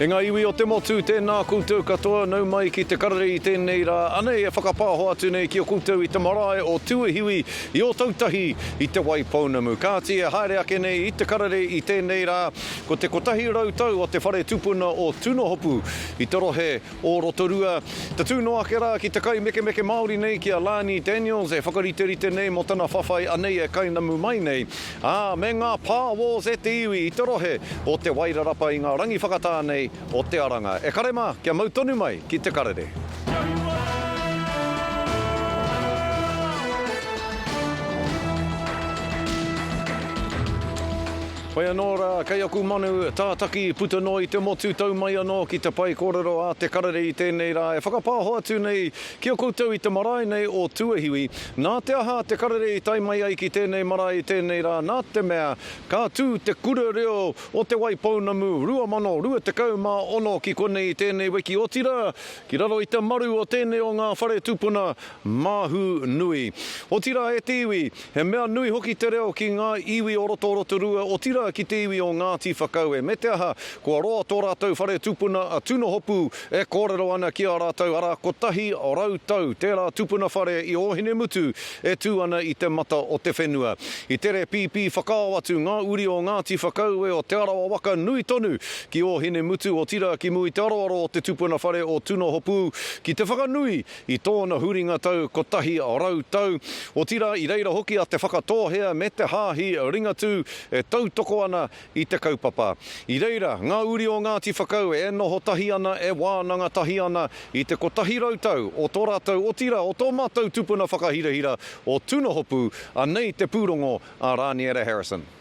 E ngā iwi o te motu, tēnā koutou katoa nau mai ki te karere i tēnei rā, anei e whakapāho atu nei ki a koutou i te marae o Tūihiwi i Ōtautahi i Te Waipounamu. Kāti e haere ake nei i te karere i tēnei rā, ko te kotahi rau tau o te whare tupuna o Tunohopu i te rohe o Rotorua. Tatū noa ake rā ki te kaimekemeke Māori nei ki a Lani Daniels e whakariterite nei mō tana whawhai anei e kainamu mai nei, ā, me ngā pā wars e te iwi i te rohe o Te Wairarapa i ngā rangi whakatā nei o te aranga. E kare mā, kia mau tonu mai ki te karere. Whai anō rā, kei aku manu, tātaki, puta noa i te motu, tau mai anō ki te pae kōrero a te karere i tēnei rā e whakapāho atu nei ki a koutou i te marae nei o Tuahiwi. Nā te aha te karere i tae mai ai ki tēnei marae i tēnei rā nā te mea ka tū te Kura Reo o Te Waipounamu 2026 ki konei i tēnei wiki otirā ki raro i te maru o tēnei o ngā whare tupuna Māhu nui. Otirā e te iwi, he mea nui hoki te reo ki ngā iwi o roto o Rotorua, otirā ki te iwi o Ngāti Whakaue. Me te aha, kua roa tō rātou whare tupuna a Tunohopu e kōrero ana ki a rātou, arā, kotahi rau tau tērā tupuna whare i Ōhinemutu e tū ana i te mata o te whenua. I tere pīpī whakao atu ngā uri o Ngāti Whakaue o Te Arawa waka nui tonu ki Ōhinemutu, otirā ki Mui te aroaro o te tupuna whare o Tunohopu ki te whakanui I tōna huringa tau kotahi rau tau, otirā i reira hoki a Te Whakatōhea me Te Haahi Ringatū e tautoko ana i te kaupapa. I reira, ngā uri o Ngāti Whakau e noho tahi ana, e wānanga tahi ana i te kotahi rau tau o tō rātou, otirā o tō mātou tupuna whakahirahira o Tunohopu, anei te pūrongo a Rāniera Harrison.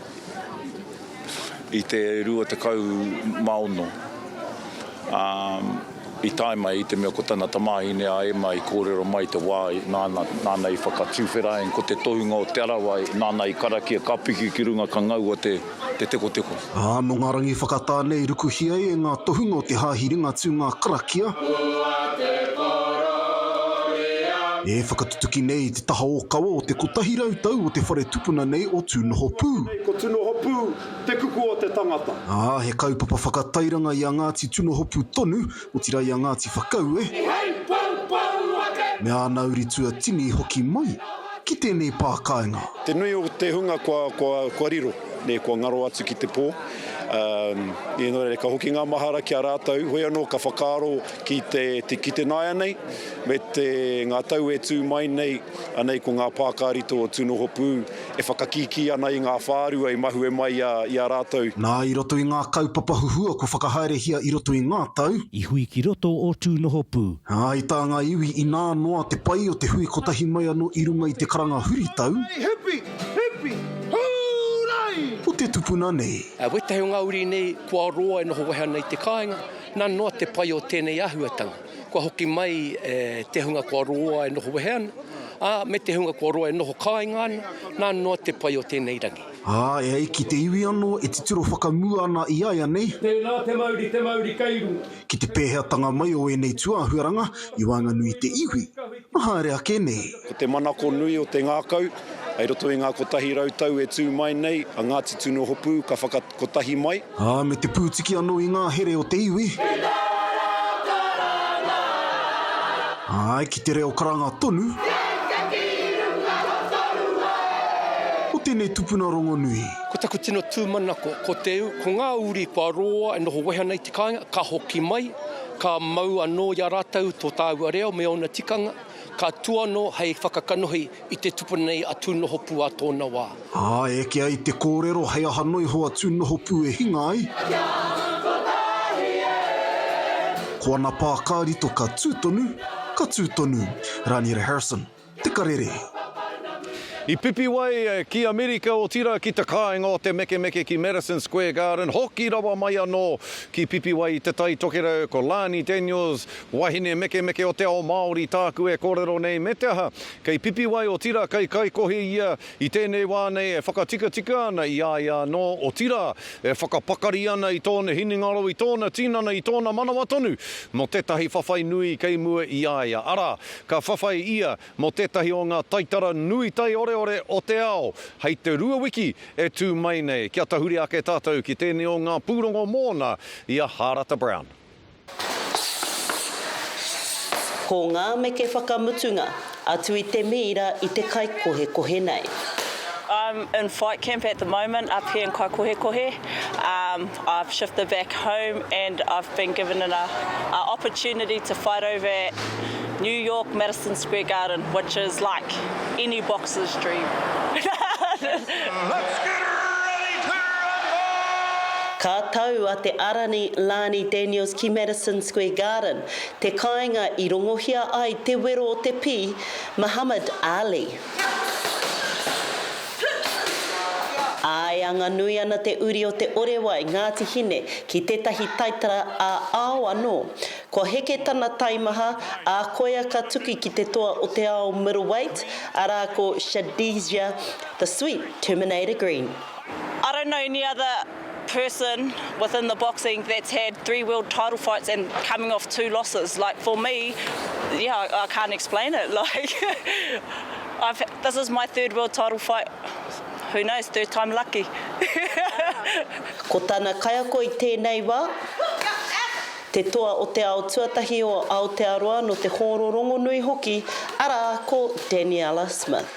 i te 26, ā, i tae mai i te mea ko tana tamāhine a Emma i kōrero mai i te wā nāna, nāna i whakatuwheraeng ko te tohunga o Te Arawa, nāna i karakia ka piki ki runga ka ngaua te, te tekoteko. Ā, nō ngā rangi whakatā nei rukuhia ai e ngā tohunga o te Hāhi Ringatū ngā karakia e whakatutuki nei i te taha ōkawa o te kotahi rau tau o te whare tupuna nei o Tūnohopū. Nei ko Tūnohopū te kupu o te tangata. Ā, he kaupapa whakatairanga i a Ngāti Tūnohopū tonu, otirā i a Ngāti Whakaue. Ki hei poupou a te. Me āna uri tuatini hoki mai. Ki tēnei pā kāinga. Te nui o te hunga kua riro, nei kua ngaro atu ki te pō. Nō reira, ka hoki ngā mahara ki a rātou, hoi anō ka whakaaro. ki te tikit ināianei me te ngā tau e tū mai nei, anei ko ngā pākārito o Tūnohopū e whakakīkī ana i ngā whārua i mahue mai i a rātou. Nā i roto i ngā kaupapa huhua kua whakahaerehia i roto i ngā tau. I hui ki roto o Tūnohopū. Ā, i tā ngā iwi inā noa te pai o te hui kotahi mai anō i runga i te karanga huritau. Hūrai! Hipi! Hipi! Hūrai! O te tupuna nei. Wētahi o ngā uri nei kua roa e noho wehe ana i te kāinga. Nā noa te pai o tēnei āhuatanga, kua hoki mai e te hunga kua roa e noho wehe ana, ā, me te hunga kua roa e noho kāinga ana, nā noa te pai o tēnei rangi. Ā, e ai ki te iwi anō, e titiro whakamua ana i a ia nei. Tēnā te mauri, te mauri kei runga. Ki te pēheatanga mai o ēnei tūāhuaranga i waenganui i te iwi. Kua haere ake nei. Ko te manako nui o te ngākau, hei roto i ngā kotahi rau tau e tū mai nei, a Ngāti Tunuhopu ka whakakotahi mai. Ā, me te pūtiki anō i ngā here o te iwi. Ki te reo karanga. Āe, ki te reo karanga tonu. Kei te tīrunga o tōu wai. Ko tēnei tupuna rongonui. Ko taku tino tūmanako, ko te, ko ngā uri kua roa e noho wehe ana i te kāinga, ka hoki mai. Ka mau anō i a rātou tō tāua reo me ōna tikanga, ka tū anō hei whakakanohi i te tupuna nei a Tūnohopū ā tōna wā. Ā, eke ai te kōrero hei aha noa iho a Tūnohopū e hinga ai. Kia atu kotahi e! Ko ana pā ka rito ka tū tonu, ka tū tonu. Raniera Harrison. Te Karere. I pipi wai ki Amerika otira ki te kāinga o Te Mekemeke ki Madison Square Garden, hoki rawa mai anō ki Pipiwai i Te Tai Tokerau, ko Lani Daniels, wahine mekemeke o te ao Māori tāku e kōrero nei, me te aha, kei Pipiwai otira kei Kaikohe ia i tēnei wā nei e whakatikatika ana i a ia anō, otira e whakapakari ana i tōna hinengaro, i tōna tinana, i tōna manawa tonu mō tētahi whawhai nui kei mua i a ia, arā, Ka whawhai ia mō tētahi o ngā taitara nui taioreore o te ao hei te rua wiki e tū mai nei, kia tahuri ake tātou ki tēnei o ngā pūrongo mōna i a Hārata Brown. Ko ngā meke whakamutunga, atu i te mīra i te kaikohekohe nei. I'm in flight camp at the moment up here in Kaikohekohe. I've shifted back home and I've been given an a opportunity to fight over at New York Madison Square Garden which is like any boxer's dream. Let's get ready to rumble! Ka tau a Te Arani Lani Daniels ki Madison Square Garden, te kāinga i rongohia ai te wero o te pī, Muhammad Ali. Ā, e anga nui ana te uri o Te Orewai, Ngāti Hine, ki tētahi taitara ā-ao anō. Kua heke tana taimaha, ā, koia ka tuku ki te toa o te ao middleweight, arā ko Shadizia The Sweet Terminator Green. I don't know any other person within the boxing that's had three world title fights and coming off two losses like for me yeah I, I can't explain it like I've this is my third world title fight who knows third time lucky Ko tana kaiako i tēnei wā, te toa o te ao tuatahi o Aotearoa nō te hōro rongonui hoki, arā, ko Daniella Smith.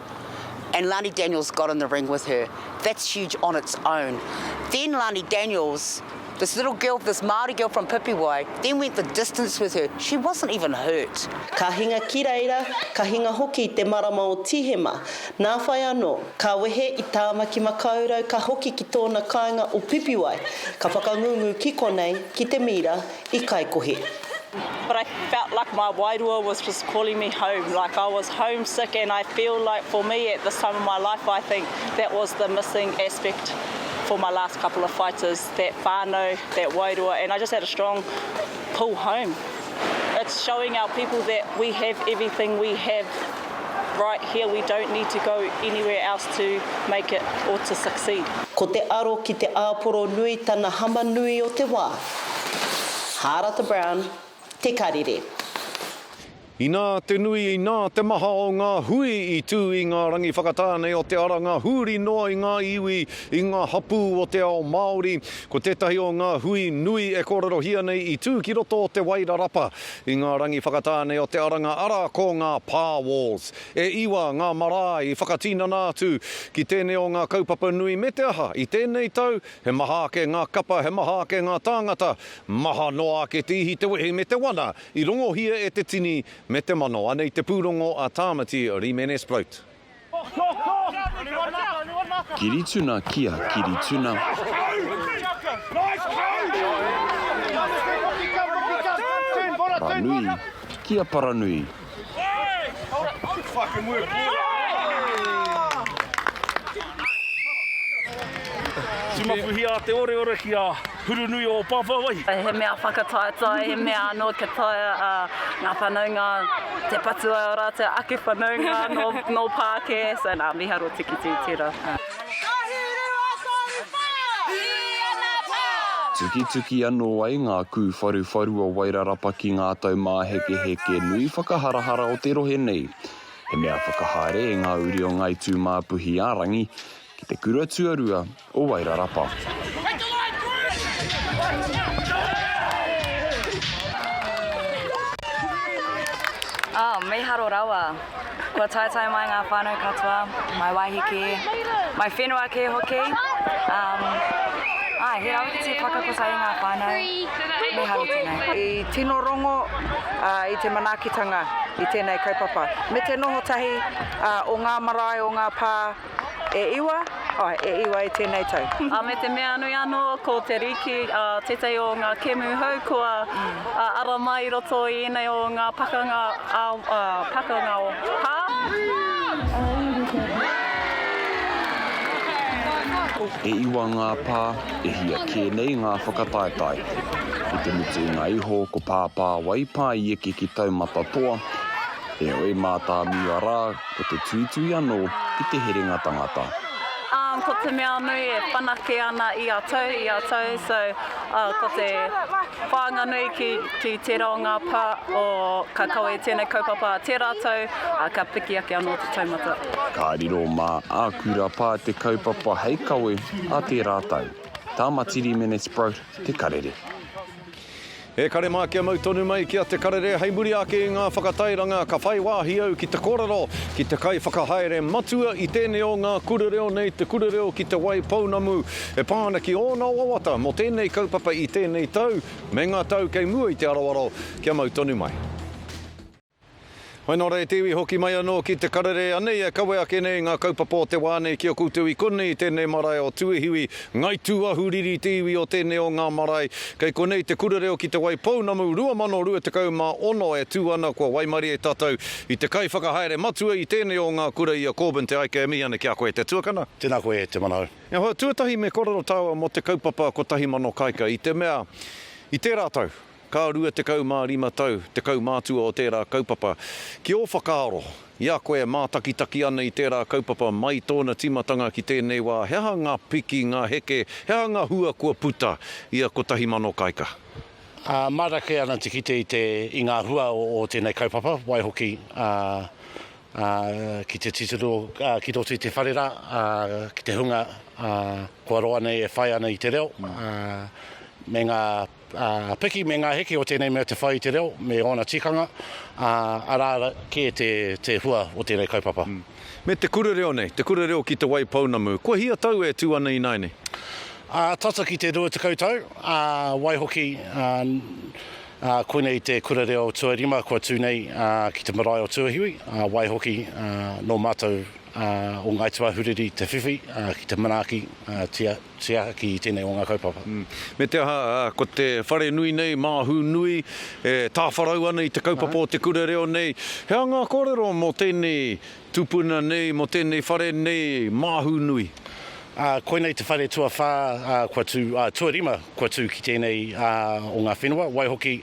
and Lani Daniels got in the ring with her, that's huge on its own. Then Lani Daniels, this little girl, this Māori girl from Pipiwai, then went the distance with her, she wasn't even hurt. Ka hinga ki reira, ka hinga hoki i te marama o Tihema. Nā whai anō, ka wehe i Tāmaki Makaurau ka hoki ki tōna kāinga o Pipiwai, ka whakangungu ki konei, ki te mīra, i Kaikohe. But I felt like my wairua was just calling me home, like I was homesick and I feel like for me at this time of my life I think that was the missing aspect for my last couple of fights is that whanau, that wairua and I just had a strong pull home. It's showing our people that we have everything we have right here, we don't need to go anywhere else to make it or to succeed. Ko te aro ki te āporo nui tana hama nui o te wā. Hārata Brown, Te Karere. Inā te nui, inā te maha o ngā hui i tū i ngā rangi whakatāne o te ara, ngā huri noa i ngā iwi, i ngā hapū o te ao Māori. Ko tētahi o ngā hui nui e kōrerohia nei i tū ki roto o Te Waira Rapa i ngā rangi whakatāne o Te Aranga, arā, ko ngā Par Walls. E iwa ngā marae i whakatinana atu ki tēnei o ngā kaupapa nui, me te aha, i tēnei tau, He maha ake ngā kapa, he maha ake ngā tāngata, maha noa ake te ihi, te wehi me te wana i rongohia e te tini me te mano. Anei te pūrongo a Tāmati Rimenes Braut. Kirituna Kia Kirituna. Paranui Kia Paranui. Timapuhia te oreore ki a Hurunui o Pāpāwai. He mea whakataetae, he mea anō kia taea ngā whanaunga te patu ai ō rātou ake whanaunga nō Pākē, so nā, miharo tikitī, tērā. Tukituki anō ai ngā kūwharuwharu o Wairarapa ki ngā tau māhekeheke nui whakaharahara o te rohe nei. He mea whakahaere e ngā uri o Ngāi Tūmāpuhi-ā-rangi ki te kura tuarua o Wairarapa. Kua taetae mai ngā whānau katoa, mai wāhi kē, mai whenua kē hoki. Um, ai, he rawe ki te whakakotahi ngā whānau, me haru tēnei. I tino rongo uh, i te manaakitanga i tēnei kaupapa, me te noho tahi uh, o ngā marae, o ngā pā, E iwa, ae, e iwa e tenei tau. A me te mea nui ano, ko te riki, a, tetahi o nga kemu hou kua, a, ara mai i roto i enei o nga pakanga, a, a, pakanga o pa. E iwa nga pa, e hia ke nei nga whakataetae. I te mutu i nga iho, ko Pāpāwai pa i eke ki taumata toa, Heoi, mātāmua rā, ko te tuitui anō ki te herenga tangata. Umm, ko te mea nui e whanake ana ia tau, ia tau, so, uh, ko te whāinga nui ki, ki tērā o ngā pā o ka kawe i tēnei kaupapa tērā tau, uh, ka piki ake anō te taumata. Ka riro mā āku rā pā te kaupapa hei kawe a tērā tau. Tāmatiri Mene Sprout, Te Karere. E kare mā kia mau tonu mai ki a Te Karere hei muri ake i ngā whakatairanga ka whai wāhi au ki te kōrero ki te kaiwhakahaere matua i tēnei o ngā kura reo nei te kura reo ki Te Wai Pounamu e pā ana ki ōna wawata mō tēnei kaupapa i tēnei tau me ngā tau kei mua i te aroaro kia mau tonu mai. Hoi nō rā e te iwi hoki mai anō ki te karere anei e kawe ake nei ngā kaupapa o te wā nei ki a koutou i konei i tēnei marae o Tuehiwi, Ngai Tūahuriri te iwi o tēnei o ngā marae. Kei konei te Kura Reo ki Te Waipounamu 2026 e tū ana kua waimarie tātou i te kaiwhakahaere matua i tēnei o ngā kura i a Corbyn Te Aike e mihi ana ki a koe te tuakana. Tēnā koe e Te Manahau. E hoa, tuatahi me kōrero tāua mō te kaupapa kotahi mano kaika i te mea i tērā tau, Ka rua tekau mā rima tau te kaumātua o tērā kaupapa. Ki ō whakaaro, i a koe e mātakitaki ana i tērā kaupapa mai tōna tīmatanga ki tēnei wā, he aha ngā piki, ngā heke, he aha ngā hua kua puta ia kotahi mano kaika? Mārake ana te kite i ngā hua o tēnei kaupapa, waihoki ki te titiro ki roto i te whare rā, ki te hunga kua roa nei e whai ana i te reo me ngā Piki me ngā heke o tēnei mea te whai i te reo me ōna tikanga, ā, arā kē te, te hua o tēnei kaupapa. Me te kura reo nei, te kura reo ki Te Waipounamu, kua hia tau e tū ana ināianei? Tata ki te rua tekau tau, ā, waihoki, ā, koinei te kura reo tuarima kua tū nei, ā, ki te marae o Tuahiwi, ā, waihoki, ā, nō mātou, ā, o Ngāi Te Wāhuriri te whiwhi, ā, ki te manaaki, ā, tia. Te aha ki tēnei o ngā kaupapa? Me te aha, ko te whare nui nei, māhū nui, e tāwharau ana i te kaupapa o te kura reo nei. He aha ngā kōrero mō tēnei tupuna nei, mō tēnei whare nei, māhū nui? Koinei te whare tuawhā, kua tū, tuarima kua tū ki tēnei o ngā whenua, waihoki,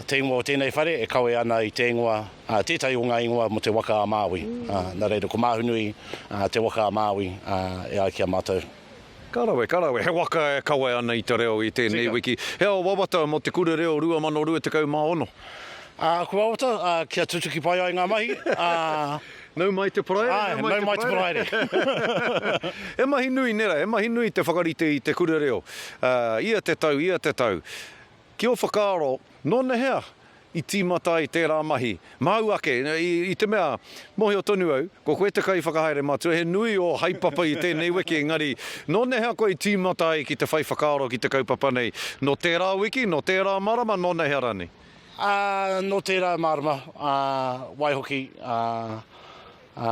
te ingoa o tēnei whare e kawe ana i te ingoa ā, tētahi o ngā ingoa mō te waka a Māui, ā, nā reira ko Māhunui, ā, te waka a Māui, ā, e ai ki a mātou. Ka rawe, ka rawe, he waka e kawe ana i te reo i tēnei wiki. He ao wawata mō Te Kura Reo 2026. Ā, aku wawata, ā, kia tutuki pai ai ngā mahi, ā. Nau mai te paraire, nau mai te paraire. Āe, nau mai te paraire. He mahi nui, nē rā, he mahi nui te whakarite i Te Kura Reo, ā, ia te tau, ia te tau. Ki ō whakaaro, nō nehea i tīmata ai tērā mahi? Māu ake, i te mea, mōhio tonu au, ko koe te kaiwhakahaere matua, he nui ō haepapa i tēnei wiki, engari, nō nehea koe i tīmata ai ki te whai whakaaro ki te kaupapa nei? Nō tērā wiki, nō tērā marama, nō nehea rānei? Ā, nō tērā marama, ā, waihoki, ā. Ā,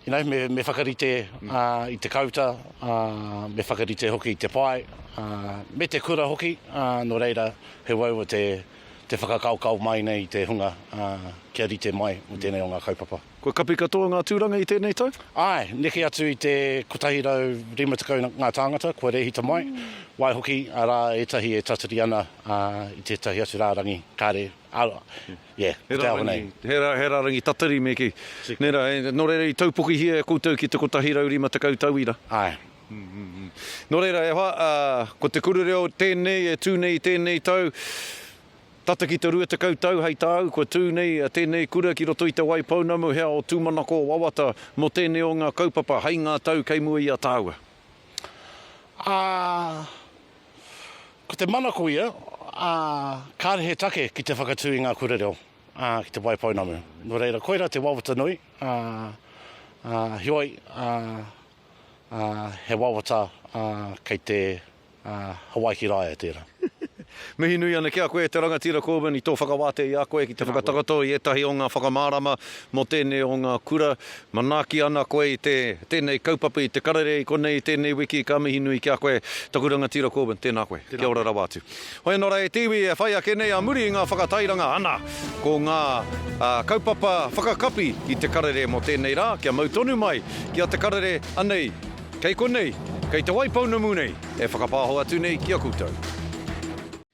ināi me, me whakarite ā, i te kauta, ā, me whakarite hoki i te pae, ā, me te kura hoki, ā, nō reira, he uaua te, te whakakaokao mai nei i te hunga, ā, kia rite mai mō tēnei o ngā kaupapa. Kua kapi katoa ngā tūranga i tēnei tau? Āe, neke atu i te 150 ngā tāngata kua rēhita mai, waihoki, arā ētahi e tatari ana, ā, i tētahi atu rārangi, kāre, ā, Yeah, ko te ahunei. He rarangi, he rarangi tatari me kī. Nē rā, nō reira i taupokihia e koutou ki te 150 tauira. Āe. Nō reira, e hoa, ko te kura reo tēnei e tū nei i tēnei tau, tata ki te 20 tau hei tāu kua tū nei tēnei kura ki roto i Te Waipounamu, he ao tūmanako wawata mō tēnei o ngā kaupapa hei ngā tau kei mua i a tāua. Ā, Ko te manako ia, ā, kāre he take ki te whakatū i ngā kura reo, ā, ki te waipounamu. Nō reira, koirā te wawata nui, ā, ā, heoi, ā, ā, he wawata, ā, kei te, ā, Hawaiki Rāea tērā. Mihi nui ana ki a koe, te Rangatira Corbyn, i tō whakawātea i a koe ki te whakatakoto i ētahi o ngā whakamārama mō tēnei o ngā kura. Manaaki ana koe i te tēnei kaupapa i te karere i konei i tēnei wiki, ka mihi nui ki a koe taku rangatira Corbyn, tēnā koe, kia ora rawa atu. Hoi anō rā e te iwi e whai ake nei a muri i ngā whakatairanga ana ko ngā kaupapa whakakapi i te karere mō tēnei rā, kia mau tonu mai ki a te karere anei kei konei, kei te Waipounamu nei e whakapāho atu nei ki a koutou.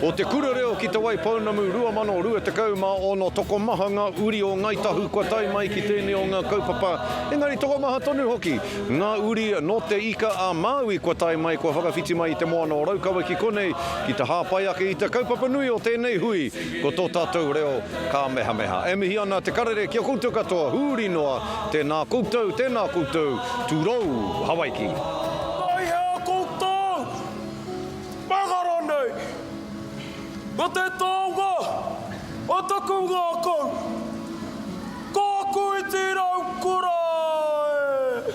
Ko Te Kura Reo ki Te Wai Pounamu 2026 tokomaha ngā uri o Ngāi Tahu kua tae mai ki tēnei o ngā kaupapa, engari tokomaha tonu hoki ngā uri nō Te Ika a Māui kua tae mai, kua whakawhiti mai i te moana o Raukawa ki konei ki te hāpai ake i te kaupapa nui o tēnei hui, ko tō tātou reo kāmehameha. E mihi ana te karere ki a koutou katoa, huri noa, tēnā koutou, tēnā koutou, tūrou Hawaiki. Taihe a koutou! Mahara nei! Ko te taonga o taku ngākau, ko aku iti rau kura e!